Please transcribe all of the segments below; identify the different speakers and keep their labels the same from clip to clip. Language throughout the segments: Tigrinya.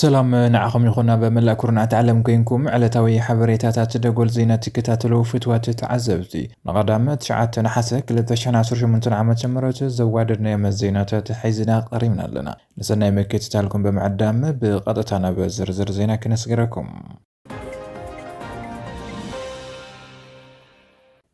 Speaker 1: ሰላም ንዓኹም ይኹን ኣብ መላእ ኩርናዓት ዓለም ኮይንኩም ዕለታዊ ሓበሬታታት ደጎል ዜና ትከታተሉ ፍትዋት ተዓዘብቲ ንቐዳመ 9 ነሓሰ 2018 ዓ ም ዘዋደድናዮም ዜናታት ሒዝና ቀሪብና ኣለና ንሰናይ ምክትታልኩም ብምዕዳም ብቐጥታ ናብ ዝርዝር ዜና ክነስገረኩም።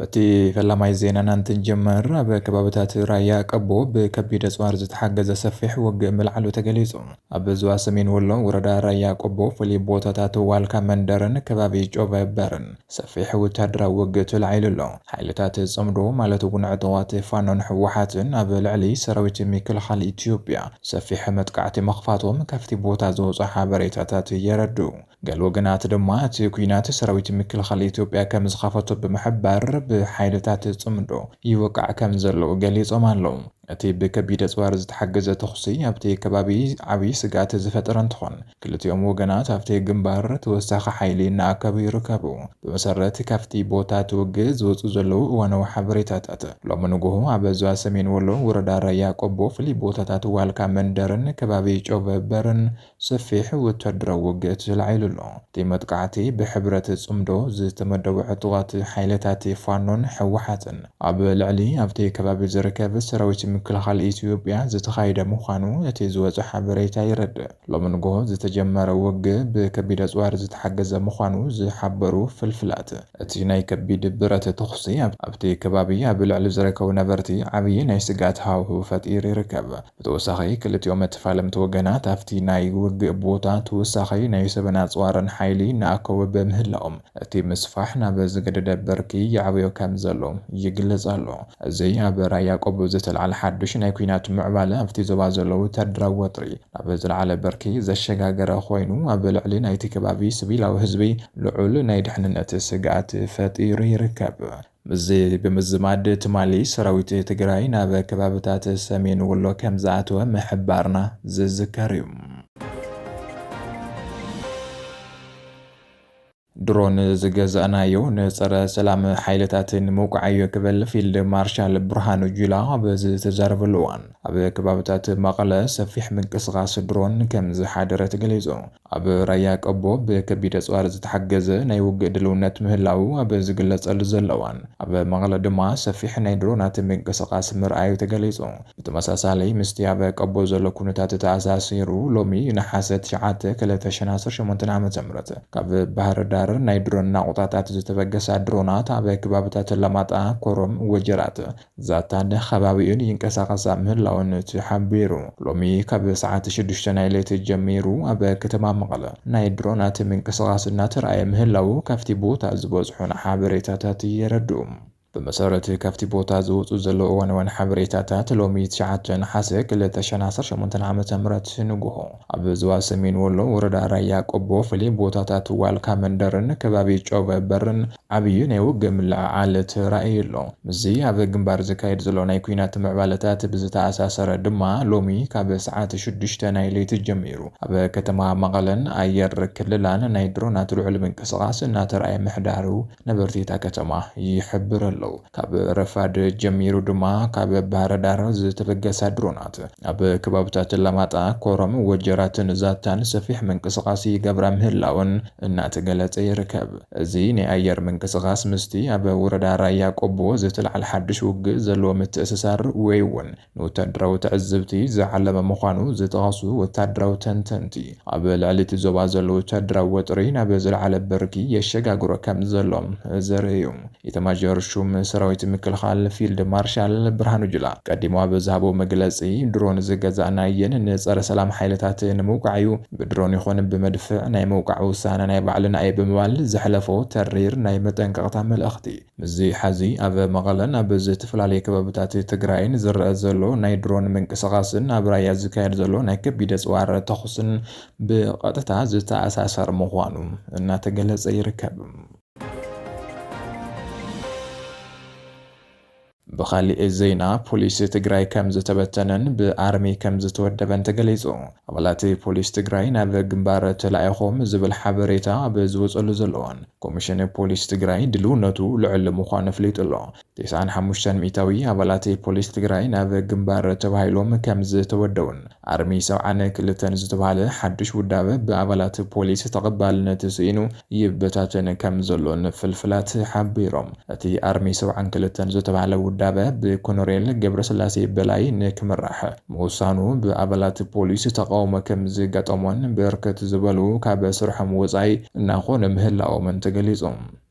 Speaker 1: በቲ ፈላማይ ዜናና እንትንጀመር ኣብ ከባብታት ራያ ቀቦ ብከቢድ ኣፅዋር ዝተሓገዘ ሰፊሕ ውግእ ምልዓሉ ተገሊፁ። ኣብ ዞባ ሰሜን ወሎ ወረዳ ራያ ቆቦ ፍሉይ ቦታታት ዋልካ መንደርን ከባቢ ጮቨ በርን ሰፊሕ ወተሃደራዊ ውግእ ተላዒሉ ኣሎ። ሓይልታት ጽምዶ ማለት እውን ዕጡቓት ፋኖን ህወሓትን ኣብ ልዕሊ ሰራዊት ምክልኻል ኢትዮጵያ ሰፊሕ መጥቃዕቲ ምኽፋቶም ካብቲ ቦታ ዝወጹ ሓበሬታታት የረድኡ። ገለ ወገናት ድማ እቲ ኲናት ሰራዊት ምክልኻል ኢትዮጵያ ከም ዝኸፈቶ ብምሕባር ብሓይልታት ጽምዶ ይወቃዕ ከም ዘሎ ገሊጾም ኣለዉ። እቲ ብከቢድ ኣፅዋር ዝተሓገዘ ተኹሲ ኣብቲ ከባቢ ዓብዪ ስግኣት ዝፈጠረ እንትኾን፣ ክልቲኦም ወገናት ኣብቲ ግምባር ተወሳኺ ሓይሊ እናኣከቡ ይርከቡ። ብመሰረት ካብቲ ቦታ እቲ ውግእ ዝወፁ ዘለዉ እዋናዊ ሓበሬታታት፣ ሎሚ ንጉሆ ኣብ ዞባ ሰሜን ወሎ ወረዳ ራያ ቆቦ ፍሉይ ቦታታት ዋልካ መንደርን ከባቢ ጮበበርን ሰፊሕ ወታደራዊ ውግእ ተላዒሉ ኣሎ። እቲ መጥቃዕቲ ብሕብረት ጽምዶ ዝተመደቡ ዕጡቓት ሓይልታት ፋኖን ህወሓትን ኣብ ልዕሊ ኣብቲ ከባቢ ዝርከብ ሰራዊት ምክልኻል ኢትዮጵያ ዝተኻየደ ምዃኑ እቲ ዝወጸ ሓበሬታ የረድእ። ሎሚ ንጉሆ ዝተጀመረ ውግእ ብከቢድ ኣጽዋር ዝተሓገዘ ምዃኑ ዝሓበሩ ፍልፍላት፣ እቲ ናይ ከቢድ ብረት ተኹሲ ኣብቲ ከባቢ ኣብ ልዕሊ ዝርከቡ ነበርቲ ዓብዪ ናይ ስግኣት ሃዋህው ፈጢሩ ይርከብ። ብተወሳኺ ክልቲኦም ተፋለምቲ ወገናት ኣብቲ ናይ ውግእ ቦታ ተወሳኺ ናይ ሰብን ኣፅዋርን ሓይሊ እናኣከቡ ብምህላዎም እቲ ምስፋሕ ናብ ዝገደደ ብርኪ ይዓብዮ ከምዘሎ ይግለፅ ኣሎ። እዚ ኣብ ራያ ቆቦ ዝተልዓለ ሓዱሽ ናይ ኲናት ምዕባለ ኣብቲ ዞባ ዘሎ ወታደራዊ ወጥሪ ናብ ዝለዓለ ብርኪ ዘሸጋገረ ኮይኑ ኣብ ልዕሊ ናይቲ ከባቢ ስቪላዊ ህዝቢ ልዑል ናይ ድሕንነት ስግኣት ፈጢሩ ይርከብ። ምስዚ ብምዝማድ ትማሊ ሰራዊት ትግራይ ናብ ከባብታት ሰሜን ወሎ ከምዝኣተወ ምሕባርና ዝዝከር እዩ። ድሮን ዝገዛእናዮ ንፀረ ሰላም ሓይልታት ንምውቃዕ እዩ ክብል ፊልድ ማርሻል ብርሃኑ ጁላ ኣብ ዝተዛረበሉ እዋን ኣብ ከባብታት መቐለ ሰፊሕ ምንቅስቓስ ድሮን ከምዝሓደረ ተገሊፁ። ኣብ ራያ ቀቦ ብከቢድ ኣጽዋር ዝተሓገዘ ናይ ውግእ ድልውነት ምህላዉ ኣብ ዝግለጸሉ ዘሎ እዋን፣ ኣብ መቐለ ድማ ሰፊሕ ናይ ድሮናት ምንቅስቓስ ምርኣዩ ተገሊጹ። ብተመሳሳሊ ምስቲ ኣብ ቀቦ ዘሎ ኩነታት ተኣሳሲሩ፣ ሎሚ ነሓሰ ትሽዓተ ክልተ ሽሕን ዓሰርተ ሸሞንተን ዓመተ ምህረት ካብ ባህርዳር ናይ ድሮን ናቑጣታት ዝተበገሳ ድሮናት ኣብ ከባብታት ኣላማጣ፣ ኮረም፣ ወጀራት፣ ዛታን ኸባቢኡን ይንቀሳቐሳ ምህላወን እቲ ሓቢሩ። ሎሚ ካብ ሰዓት ሽዱሽተ ናይ ለይቲ ጀሚሩ ኣብ ከተማ መቐለ ናይ ድሮናት ምንቅስቓስ እናተርኣየ ምህላዉ ካብቲ ቦታ ዝበጽሑና ሓበሬታታት የረድኡ። ብመሰረት ካብቲ ቦታ ዝወጹ ዘለዉ እዋናውያን ሓበሬታታት ሎሚ ትሽዓተ ነሓሰ ክልተ ሽሕን ዓሰርተ ሸሞንተን ዓመተ ምህረት ንጉሆ ኣብ ዞባ ሰሜን ወሎ ወረዳ ራያ ቆቦ ፍሉይ ቦታታት ዋልካ መንደርን ከባቢ ጮበ በርን ዓብዪ ናይ ውግእ ምልዕዓል ተራእዩ ኣሎ። ምስዚ ኣብ ግንባር ዝካየድ ዘሎ ናይ ኲናት ምዕባለታት ብዝተኣሳሰረ ድማ ሎሚ ካብ ሰዓት ሽዱሽተ ናይ ለይቲ ጀሚሩ ኣብ ከተማ መቐለን ኣየር ክልላን ናይ ድሮናት ልዑል ምንቅስቓስ እናተርኣየ ምሕዳሩ ነበርቲ እታ ከተማ ይሕብሩ ኣለዉ። ካብ ረፋድ ጀሚሩ ድማ ካብ ባህረዳር ዝተበገሳ ድሮናት ኣብ ከባብታት ኣላማጣ፣ ኮረም፣ ወጀራትን ዛታን ሰፊሕ ምንቅስቓስ ይገብራ ምህላወን እናተገለፀ ይርከብ። እዚ ናይ ኣየር ምንቅስቓስ ምስቲ ኣብ ወረዳ ራያ ቆቦ ዝተልዓለ ሓዱሽ ውግእ ዘለዎ ምትእስሳር ወይ እውን ንወታደራዊ ትዕዝብቲ ዝዓለመ ምዃኑ ዝጠቐሱ ወታደራዊ ተንተንቲ፣ ኣብ ልዕሊ እቲ ዞባ ዘሎ ወታደራዊ ወጥሪ ናብ ዝለዓለ ብርኪ የሸጋግሮ ከምዘሎ ዘርኢ እዩ። ኢታማዦር ሹም ሰራዊት ምክልኻል ፊልድ ማርሻል ብርሃኑ ጁላ ቀዲሙ ኣብ ዝሃቦ መግለፂ፣ ድሮን ዝገዛእናየን ንፀረ ሰላም ሓይልታት ንምውቃዕ እዩ፣ ብድሮን ይኹን ብመድፍዕ ናይ ምውቃዕ ውሳነ ናይ ባዕልና እዩ ብምባል ዘሕለፎ ተሪር ናይ መጠንቀቕታ መልእኽቲ ምስዚ ሐዚ ኣብ መቐለን ኣብ ዝተፈላለየ ከባብታት ትግራይን ዝረኣ ዘሎ ናይ ድሮን ምንቅስቓስን ኣብ ራያ ዝካየድ ዘሎ ናይ ከቢድ ኣፅዋር ተኹስን ብቐጥታ ዝተኣሳሰር ምዃኑ እናተገለፀ ይርከብ። ብኻሊእ ዜና ፖሊስ ትግራይ ከምዝተበተነን ብኣርሚ ከምዝተወደበን ተገሊፁ። ኣባላት ፖሊስ ትግራይ ናብ ግንባር ተላኢኾም ዝብል ሓበሬታ ኣብ ዝወፀሉ ዘሎ እዋን ኮሚሽን ፖሊስ ትግራይ ድልውነቱ ልዑል ምዃኑ ኣፍሊጡ ኣሎ። ቴስዓን ሓሙሽተን ሚኢታዊ ኣባላት ፖሊስ ትግራይ ናብ ግንባር ተባሂሎም ከምዝተወደቡን ኣርሚ ሰብዓን ክልተን ዝተባህለ ሓዱሽ ውዳበ ብኣባላት ፖሊስ ተቐባልነት ስኢኑ ይበታተን ከምዘሎን ፍልፍላት ሓቢሮም። እቲ ኣርሚ ሰብዓን ክልተን ዝተባህለ ውዳበ ብኮነሬል ገብረስላሴ በላይ ንክምራሕ ምውሳኑ ብኣባላት ፖሊስ ተቓውሞ ከምዝገጠሞን ብርክት ዝበሉ ካብ ስርሖም ወፃኢ እናኾኑ ምህላዎምን ተገሊፁ።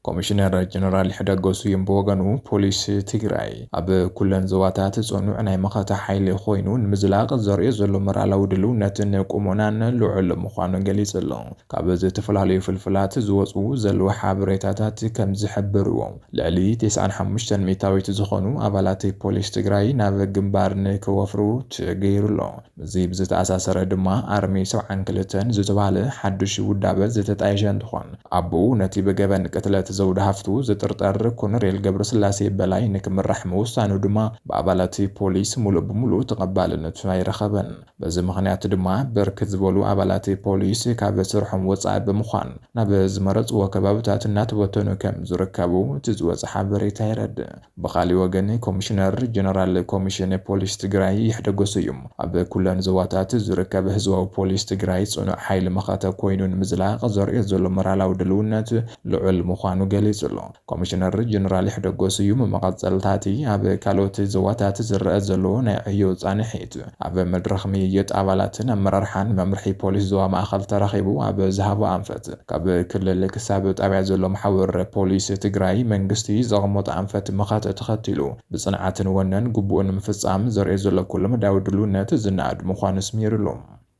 Speaker 1: ኮሚሽነር ጀነራል ይሕደጎ ስዩም ብወገኑ፣ ፖሊስ ትግራይ ኣብ ኩለን ዞባታት ፅኑዕ ናይ መኸተ ሓይሊ ኮይኑ ንምዝላቕ ዘርእዮ ዘሎ መራላዊ ድልውነትን ቁሞናን ልዑል ምዃኑ ገሊፁ ኣሎ። ካብ ዝተፈላለዩ ፍልፍላት ዝወፅኡ ዘለዉ ሓበሬታታት ከምዝሕብርዎ፣ ልዕሊ ቴስዓን ሓሙሽተን ሚእታዊት ዝኾኑ ኣባላት ፖሊስ ትግራይ ናብ ግንባር ንክወፍሩ ተገይሩ ኣሎ። ምስዚ ብዝተኣሳሰረ ድማ ኣርሚ ሰብዓን ክልተን ዝተባህለ ሓዱሽ ውዳበ ዝተጣየሸ እንትኾን፣ ኣቡኡ ነቲ ብገበን ቅትለት ዘውዲ ሃፍቱ ዝጥርጠር ኮነሬል ገብረስላሴ በላይ ንክምራሕ ምውሳኑ ድማ ብኣባላት ፖሊስ ሙሉእ ብሙሉእ ተቐባልነት ኣይረኸበን። በዚ ምኽንያት ድማ ብርክት ዝበሉ ኣባላት ፖሊስ ካብ ስርሖም ወፃኢ ብምዃን ናብ ዝመረፅዎ ከባብታት እናተበተኑ ከምዝርከቡ እቲ ዝወፀ ሓበሬታ የረድእ። ብኻሊእ ወገን ኮሚሽነር ጀነራል ኮሚሽን ፖሊስ ትግራይ ይሕደጎ ስዩም ኣብ ኩለን ዞባታት ዝርከብ ህዝባዊ ፖሊስ ትግራይ ፅኑዕ ሓይሊ መኸተ ኮይኑ ንምዝላቕ ዘርእዮ ዘሎ ሞራላዊ ድልውነት ልዑል ምዃኑ ገሊፁ'ሎ። ኮሚሽነር ጀነራል ይሕደጎ ስዩም መቐፀልታ'ቲ ኣብ ካልኦት ዞባታት ዝረኣ ዘሎ ናይ ዕዮ ፃንሒት ኣብ መድረኽ ምይይጥ ኣባላትን ኣመራርሓን መምርሒ ፖሊስ ዞባ ማእኸል ተራኺቡ ኣብ ዝሃቦ ኣንፈት ካብ ክልል ክሳብ ጣብያ ዘሎ መሓውር ፖሊስ ትግራይ መንግስቲ ዘቐመጦ ኣንፈት መኸተ ተኸቲሉ ብፅንዓትን ወነን ግቡኡ ንምፍፃም ዘርእዮ ዘሎ ኩለመዳያዊ ድልውነት ዝነኣድ ምዃኑ ስሚርሉ።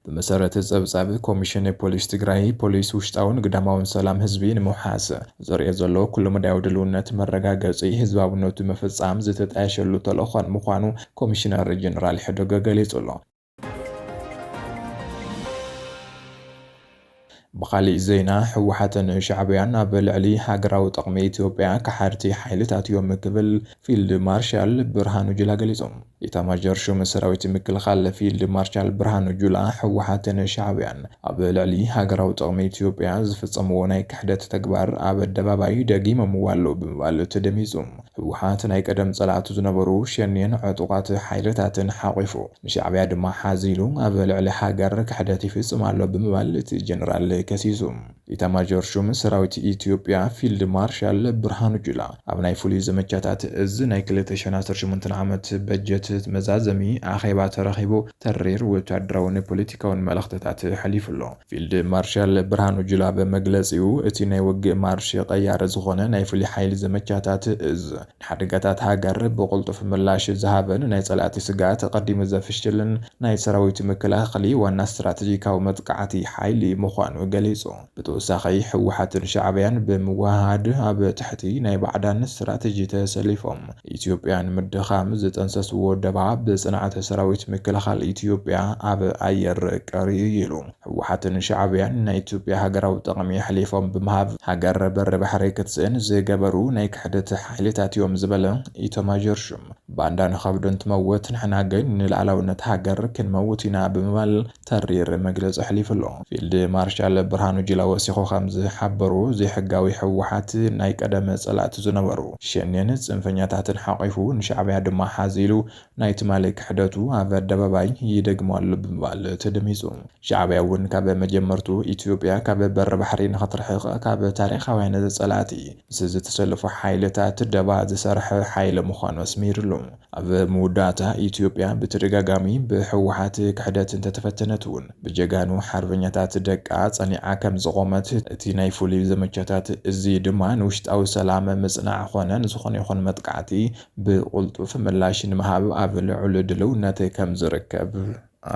Speaker 1: ብመሰረት ፀብፃብ ኮሚሽን ፖሊስ ትግራይ፣ ፖሊስ ውሽጣውን ግዳማውን ሰላም ህዝቢ ንምውሓስ ዘርእዮ ዘሎ ኩለመዳያዊ ድልውነት መረጋገፂ ህዝባውነቱ ምፍፃም ዝተጣየሸሉ ተልእኾን ምዃኑ ኮሚሽነር ጀነራል ሕዶገ ገሊፁ'ሎ። ብኻሊእ ዜና ህወሓትን ሻዕብያን ኣብ ልዕሊ ሃገራዊ ጥቕሚ ኢትዮጵያ ከሓድቲ ሓይልታት እዮም ክብል ፊልድ ማርሻል ብርሃኑ ጁላ ገሊፁ። ኢታማዦር ሹም ሰራዊት ምክልኻል ፊልድ ማርሻል ብርሃኑ ጁላ ህወሓትን ሻዕብያን ኣብ ልዕሊ ሃገራዊ ጥቕሚ ኢትዮጵያ ዝፍፀምዎ ናይ ክሕደት ተግባር ኣብ ኣደባባይ ደጊሞምዎ ኣለው ብምባል ተደሚፁ። ህወሓት ናይ ቀደም ፀላእቱ ዝነበሩ ሸኔን ዕጡቓት ሓይልታትን ሓቚፉ ንሻዕቢያ ድማ ሓዚ ኢሉ ኣብ ልዕሊ ሃገር ክሕደት ይፍፅም ኣሎ ብምባል እቲ ጀነራል ከሲሱ። ኢታማዦር ሹም ሰራዊት ኢትዮጵያ ፊልድ ማርሻል ብርሃኑ ጁላ ኣብ ናይ ፍሉይ ዘመቻታት እዝ ናይ ክልተ ሽሕን ዓሰርተ ሸሞንተን ዓመት በጀት መዛዘሚ ኣኼባ ተረኺቡ ተሪር ወታደራውን ፖለቲካውን መልእኽትታት ኣሕሊፉ ኣሎ። ፊልድ ማርሻል ብርሃኑ ጁላ ኣብ መግለጺኡ፣ እቲ ናይ ውግእ ማርሽ ቀያሪ ዝኾነ ናይ ፍሉይ ሓይሊ ዘመቻታት እዝ፣ ንሓደጋታት ሃገር ብቕልጡፍ ምላሽ ዝሃበን ናይ ጸላእቲ ስግኣት ኣቐዲሙ ዘፍሽልን ናይ ሰራዊት ምክልኻሊ ዋና ስትራተጂካዊ መጥቃዕቲ ሓይሊ ምዃኑ ገሊጹ። ብተወሳኺ ህወሓትን ሻዕብያን ብምውህሃድ ኣብ ትሕቲ ናይ ባዕዳን ስትራተጂ ተሰሊፎም ኢትዮጵያ ንምድኻም ዝጠንሰስዎ ደባ ብፅንዓት ሰራዊት ምክልኻል ኢትዮጵያ ኣብ ኣየር ቀሪዩ እዩ ኢሉ። ህወሓትን ሻዕብያን ናይ ኢትዮጵያ ሃገራዊ ጥቕሚ ኣሕሊፎም ብምሃብ ሃገር በሪ ባሕሪ ክትስእን ዝገበሩ ናይ ክሕደት ሓይልታት እዮም ዝበለ ኢታማዦር ሹም፣ ባንዳ ንኸብዱ እንትመውት ንሕና ግን ንልኣላውነት ሃገር ክንመውት ኢና ብምባል ተሪር መግለፂ ኣሕሊፉ ኣሎ። ፊልድ ማርሻል ብርሃኑ ጁላ ወሲኹ ከም ዝሓበሮ፣ ዘይሕጋዊ ህወሓት ናይ ቀደም ፀላእቲ ዝነበሩ ሸኔን ፅንፈኛታትን ሓቒፉ ንሻዕቢያ ድማ ሓዚ ኢሉ ናይ ትማሊ ክሕደቱ ኣብ ኣደባባይ ይደግሞ ኣሎ ብምባል ተደሚፁ። ሻዕቢያ እውን ካብ መጀመርትኡ ኢትዮጵያ ካብ በሪ ባሕሪ ንኽትርሕቕ ካብ ታሪኻውያን ፀላእቲ ምስ ዝተሰለፉ ሓይልታት ደባ ዝሰርሐ ሓይሊ ምዃኑ ኣስሚርሉ። ኣብ መወዳእታ ኢትዮጵያ ብተደጋጋሚ ብህወሓት ክሕደት እንተተፈተነት እውን ብጀጋኑ ሓርበኛታት ደቃ ፀኒዓ ከምዝቖመት እቲ ናይ ፍሉይ ዘመቻታት እዚ ድማ ንውሽጣዊ ሰላም ምፅናዕ ኾነ ንዝኾነ ይኹን መጥቃዕቲ ብቕልጡፍ ምላሽ ንምሃብ ኣብ ልዑል ድልውነት ከምዝርከብ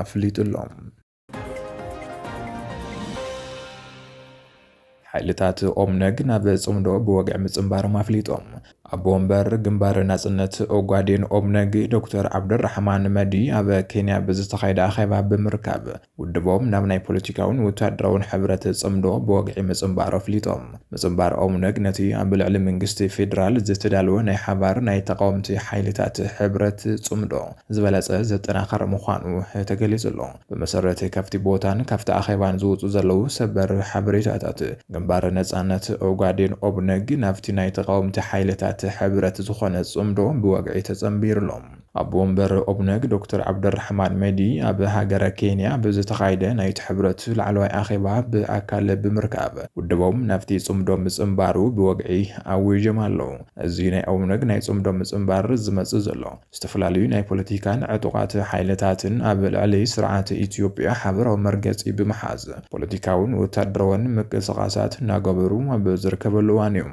Speaker 1: ኣፍሊጡ ኣሎ። ሓይልታት ኦብነግ ናብ ጽምዶ ብወግዒ ምጽንባሮም ኣፍሊጦም። ኣቦ ወንበር ግንባር ናጽነት ኦጋዴን ኦብነግ ዶክተር ዓብደራሕማን መዲ ኣብ ኬንያ ብዝተኻየደ ኣኼባ ብምርካብ ውድቦም ናብ ናይ ፖለቲካውን ወታደራውን ሕብረት ጽምዶ ብወግዒ ምጽንባሩ ኣፍሊጦም። ምጽንባር ኦብነግ ነቲ ኣብ ልዕሊ መንግስቲ ፌደራል ዝተዳለወ ናይ ሓባር ናይ ተቓወምቲ ሓይልታት ሕብረት ጽምዶ ዝበለፀ ዘጠናኸረ ምዃኑ ተገሊፁ ኣሎ። ብመሰረት ካብቲ ቦታን ካብቲ ኣኼባን ዝወፁ ዘለዉ ሰበር ሓበሬታታት ግንባር ነፃነት ኦጋዴን፣ ኦብነግ፣ ናብቲ ናይ ተቓወምቲ ሓይልታት ሕብረት ዝኾነ ፅምዶ ብወግዒ ተፀምቢሩ ኣሎ። ኣቦ ወንበር ኦብነግ ዶክተር ዓብደልራሕማን መህዲ ኣብ ሃገረ ኬንያ ኣብ ዝተኻየደ ናይቲ ሕብረት ላዕለዋይ ኣኼባ ብኣካል ብምርካብ ውድቦም ናብቲ ፅምዶ ምፅምባሩ ብወግዒ ኣዊጆም ኣለዉ። እዚ ናይ ኦብነግ ናይ ፅምዶ ምፅምባር ዝመፅእ ዘሎ ዝተፈላለዩ ናይ ፖለቲካን ዕጡቓት ሓይልታትን ኣብ ልዕሊ ስርዓት ኢትዮጵያ ሓበራዊ መርገፂ ብምሓዝ ፖለቲካውን ወታደራውን ምቅስቓሳት እናገበሩ ኣብ ዝርከበሉ እዋን እዩ።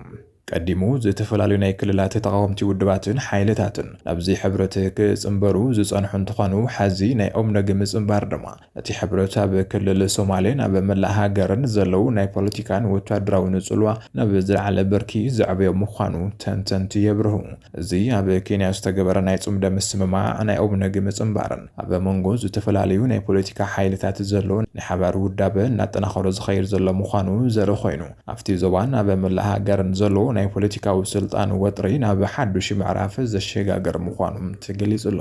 Speaker 1: ቀዲሙ ዝተፈላለዩ ናይ ክልላት ተቓወምቲ ውድባትን ሓይልታትን ናብዚ ሕብረት ክፅምበሩ ዝፀንሑ እንትኾኑ፣ ሐዚ ናይ ኦብነግ ምፅምባር ድማ እቲ ሕብረት ኣብ ክልል ሶማሌን ኣብ መላእ ሃገርን ዘለዉ ናይ ፖለቲካን ወታደራውን ጽልዋ ናብ ዝለዓለ ብርኪ ዘዕበዮ ምዃኑ ተንተንቲ የብርሁ። እዚ ኣብ ኬንያ ዝተገበረ ናይ ጽምዶ ምስምማዕ፣ ናይ ኦብነግ ምጽንባርን ኣብ መንጎ ዝተፈላለዩ ናይ ፖለቲካ ሓይልታት ዘሎ ናይ ሓባር ውዳበ እናጠናኸሮ ዝኸይድ ዘሎ ምዃኑ ዘርኢ ኮይኑ፣ ኣብቲ ዞባን ኣብ መላእ ሃገርን ዘሎ ናይ ፖለቲካዊ ስልጣን ወጥሪ ናብ ሓዱሽ ምዕራፍ ዘሸጋግር ምዃኑ ተገሊጹ ኣሎ።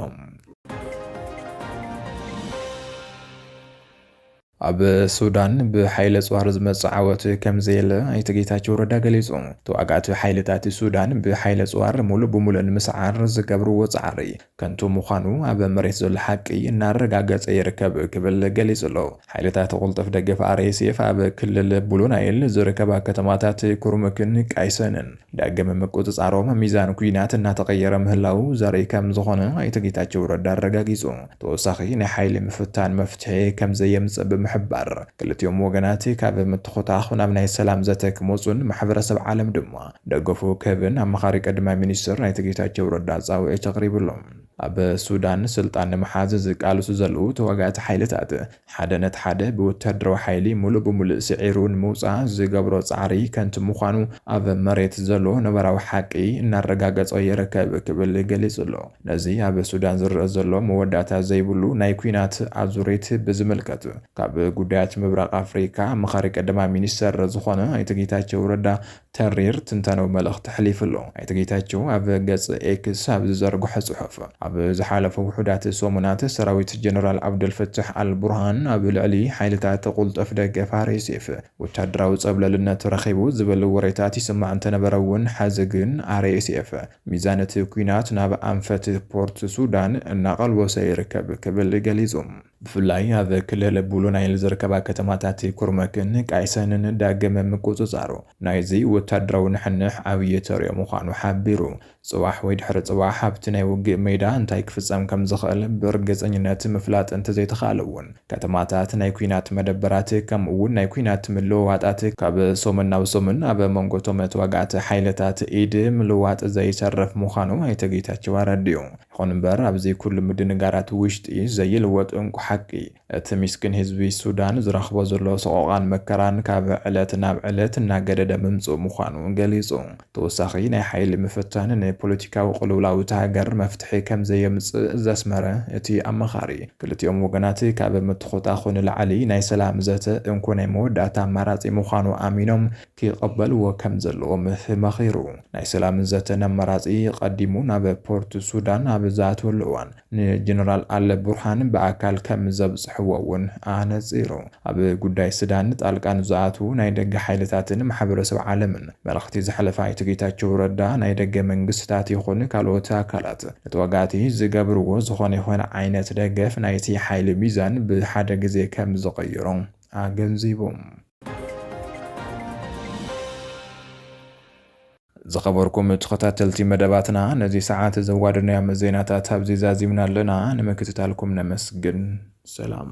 Speaker 1: ኣብ ሱዳን ብሓይሊ ኣጽዋር ዝመጽእ ዓወት ከምዘየለ ኣይተ ጌታቸው ረዳ ገሊጹ። ተዋጋእቲ ሓይልታት ሱዳን ብሓይሊ ኣጽዋር ሙሉእ ብሙሉእ ንምስዓር ዝገብርዎ ጻዕሪ ከንቱ ምዃኑ ኣብ መሬት ዘሎ ሓቂ እናረጋገጸ ይርከብ ክብል ገሊጹ ኣሎ። ሓይልታት ቁልጡፍ ደገፍ፣ RSF፣ ኣብ ክልል ብሉ ናይል ዝርከባ ከተማታት ኩርሙክን ቃይሰንን ዳግም ምቁፅፃሮም ሚዛን ኲናት እናተቐየረ ምህላዉ ዘርኢ ከምዝኾነ ኣይተ ጌታቸው ረዳ ኣረጋጊፁ ተወሳኺ ናይ ሓይሊ ምፍታን መፍትሒ ከምዘየምፅእ ብምሕባር ክልቲኦም ወገናት ካብ ምትኹታኹ ናብ ናይ ሰላም ዘተ ክመፁን ማሕበረሰብ ዓለም ድማ ደገፉ ክህብን ኣማኻሪ ቀዳማይ ሚኒስትር ኣይተ ጌታቸው ረዳ ፃውዒት ኣቕሪብሎም። ኣብ ሱዳን ስልጣን ንምሓዝ ዝቃልሱ ዘለዉ ተዋጋእቲ ሓይልታት ሓደ ነቲ ሓደ ብወተሃደራዊ ሓይሊ ምሉእ ብምሉእ ስዒሩ ንምውጻእ ዝገብሮ ጻዕሪ ከንቱ ምዃኑ ኣብ መሬት ዘሎ ነባራዊ ሓቂ እናረጋገጾ ይርከብ ክብል ገሊጹ'ሎ። ነዚ ኣብ ሱዳን ዝረኣ ዘሎ መወዳእታ ዘይብሉ ናይ ኲናት ኣዙሪት ብዝምልከት ካብ ጉዳያት ምብራቕ ኣፍሪቃ ኣማኻሪ ቀዳማይ ሚኒስተር ዝኾነ ኣይተ ጌታቸው ረዳ ተሪር ትንተናዊ መልእኽቲ ኣሕሊፉ ኣሎ። ኣይተ ጌታቸው ኣብ ገፅ ኤክስ ኣብ ዝዘርግሖ ፅሑፍ፣ ኣብ ዝሓለፉ ውሑዳት ሰሙናት ሰራዊት ጀነራል ዓብደልፈታሕ ኣል ቡርሃን ኣብ ልዕሊ ሓይልታት ቁልጡፍ ደገፍ፣ RSF፣ ወታደራዊ ፀብለልነት ረኺቡ ዝብል ወሬታት ይስማዕ እንተነበረ እውን ሐዚ ግን RSF ሚዛን እቲ ኲናት ናብ ኣንፈት ፖርት ሱዳን እናቐልወሰ ይርከብ ክብል ገሊፁ። ብፍላይ ኣብ ክልል ብሉ ናይል ዝርከባ ከተማታት ኩርመክን ቃይሰንን ዳግም ምቁጽጻሩ ናይዚ ወታደራዊ ንሕንሕ ዓብዪ ተርዮ ምዃኑ ሓቢሩ። ጽባሕ ወይ ድሕሪ ጽባሕ ኣብቲ ናይ ውግእ ሜዳ እንታይ ክፍጸም ከም ዝኽእል ብርግጸኝነት ምፍላጥ እንተዘይተኻእለ'ውን ከተማታት ናይ ኲናት መደበራት ከምኡ'ውን ናይ ኲናት ምልውዋጣት ካብ ሰሙን ናብ ሰሙን ኣብ መንጎ'ቶም ተዋጋእቲ ሓይልታት ኢድ ምልዋጥ ዘይተርፍ ምዃኑ ኣይተ ጌታቸው ኣረዲኡ። ይኹን እምበር ኣብዙይ ኩሉ ምድንጋራት ውሽጢ ዘይልወጥ እንኮ ሓቂ እቲ ሚስኪን ህዝቢ ሱዳን ዝረኽቦ ዘሎ ሰቖቓን መከራን ካብ ዕለት ናብ ዕለት እናገደደ ምምፅኡ ምዃኑ ገሊፁ። ተወሳኺ ናይ ሓይሊ ምፍታን ንፖለቲካዊ ቅልውላው እታ ሃገር መፍትሒ ከምዘየምፅእ ዘስመረ እቲ ኣማኻሪ ክልቲኦም ወገናት ካብ ምትኹታኹ ንላዕሊ ናይ ሰላም ዘተ እንኮ ናይ መወዳእታ ኣማራፂ ምዃኑ ኣሚኖም ክቐበልዎ ከም ዘለዎም ተማኺሩ። ናይ ሰላም ዘተ ነመራጺ ቀዲሙ ናብ ፖርት ሱዳን ኣብ ዝኣትወሉ እዋን ንጀነራል ኣል ቡርሃን ብኣካል ከም ዘብጽሕዎ እውን ኣነጺሩ። ኣብ ጉዳይ ስዳን ጣልቃ ንዝኣትዉ ናይ ደገ ሓይልታትን ማሕበረሰብ ዓለምን መልእኽቲ ዘሕለፈ ኣይተ ጌታቸው ረዳ ናይ ደገ መንግስትታት ይኹን ካልኦት ኣካላት ንተዋጋእቲ ዝገብርዎ ዝኾነ ይኹን ዓይነት ደገፍ ናይቲ ሓይሊ ሚዛን ብሓደ ግዜ ከም ዝቕይሮ ኣገንዚቦም። ዝኸበርኩም ተኸታተልቲ መደባትና ነዚ ሰዓት ዘዋደናዮም ዜናታት ኣብዚ ዛዚምና ኣለና። ንምክትታልኩም ነመስግን። ሰላም።